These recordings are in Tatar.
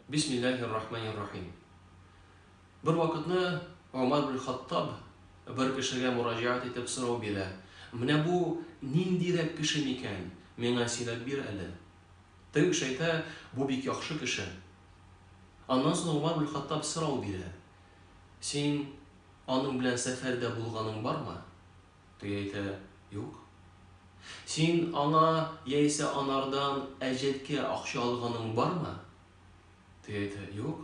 Бисмиллаһир-рахманир-рахим. Бер вакытны Омар бин Хаттаб бер кешегә мураҗәгать итеп сорау бирә, Менә бу ниндирәк кеше микән, миңа сөйләп бир әле. Теге кеше әйтә, Бу бик яхшы кеше. Аннан соң Омар бин Хаттаб сорау бирә, Син аның белән сәфәрдә булганың бармы? Теге әйтә, Юк. Син аңа яисә анардан әҗәткә акча алганың бармы? Теге әйтә, Юк.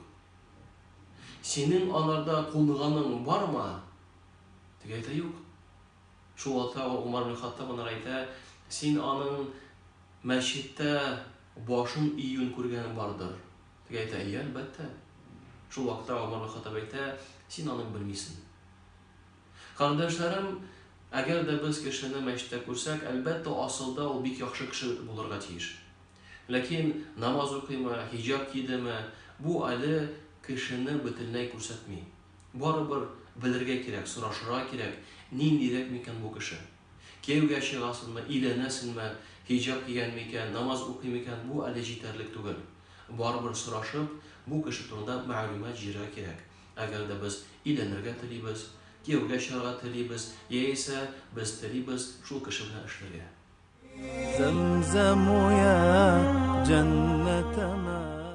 Синең анарда кунганың бармы? Теге әйтә, Юк. Шул вакытта Гомар бин Хаттаб анар әйтә, Син аның мәчеттә башын июен күргәнең бардыр? Теге әйтә, Әйе, әлбәттә. Шул вакытта Гомар бин Хаттаб әйтә, Син аны белмисең. Карындашларым, әгәр дә без кешене мәчеттә күрсәк, әлбәттә, асылда ул бик яхшы кеше булырга тиеш. Ләкин намаз укыймы, хиҗаб кидеме, бу әле кешене бөтенләй күрсәтми. Барыбер белергә кирәк, сорашырга кирәк, ниндирәк микән бу кеше. Кияүгә чыгасынмы, өйләнәсенме, хиҗаб кигән микән, намаз укый микән, бу әле җитәрлек түгел. Барыбер сорашып, бу кеше турында мәгълүмат җыярга кирәк. Әгәр дә без өйләнергә телибез, кияүгә чыгарга телибез, яисә без телибез шул кеше белән эшләргә. Зәмзәм уе, җәннәтемә.